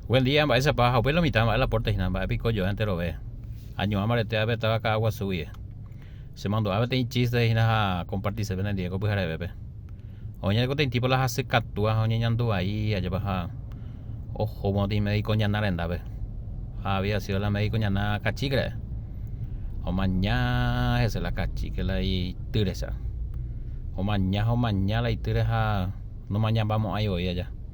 Buen día, mba'éichapa ha upéi lo mitã mba'e la pórta hína, mba'e piko joe enterove. Añuã mbarete ápe táva ka'aguasu guie. Che mandu'a peteĩ chíste hína ha kompartisépe nendive ko pyharevépe. Oĩjante ko teĩtípa la hasy katúa ha oñeñandu vai ajépa ha ohóma otĩ médiko ñana rendápe. Ha había sido la médiko ñana kachíke ra'e. Omaña hese la kachíke la itýrecha. Omaña ha omaña la itýre ha nomañamba mo'ãi voi aja.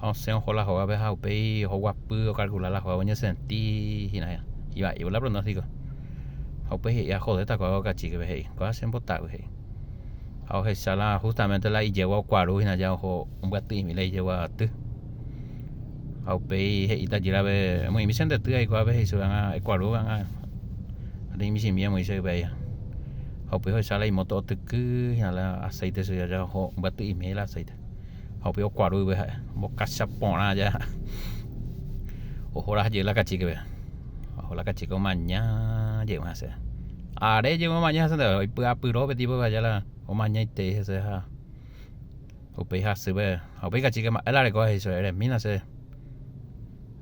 ha osẽ oho la hógape ha upéi oho guapy okalkula la hóga oñesenti hína hína. Ivaívo la pronóstiko. Ha upéi he'i ajodéta ko'água okachíkepe he'i. Ko'ág̃a che mbotavy he'i. Ha ohecha la hústamente la ijegua okuaru hína ja oho ombyatyĩmi la ijegua aty. Ha upéi he'i tajýrape, Emoĩmi che ndety aiko ápe he'i chupe ág̃a ekuaru ág̃a ani michĩmi emoĩ che yve aja. Ha upéi ohecha la imóto otyky hína la aséite chupe ja oho ombyatyĩmi he'i la aséite. ha upéva okuarúive ha'e ombokacha porã aja ha ohora ha jey la kachíkeve oho la kachíke omaña jey hese are jey omaña hese ndeve oipy'apyrõ pe tipo aja la omañaitei hese ha upéi hasýpe ha upéi kachíke mba'e la reko ha he'i chupe eremína che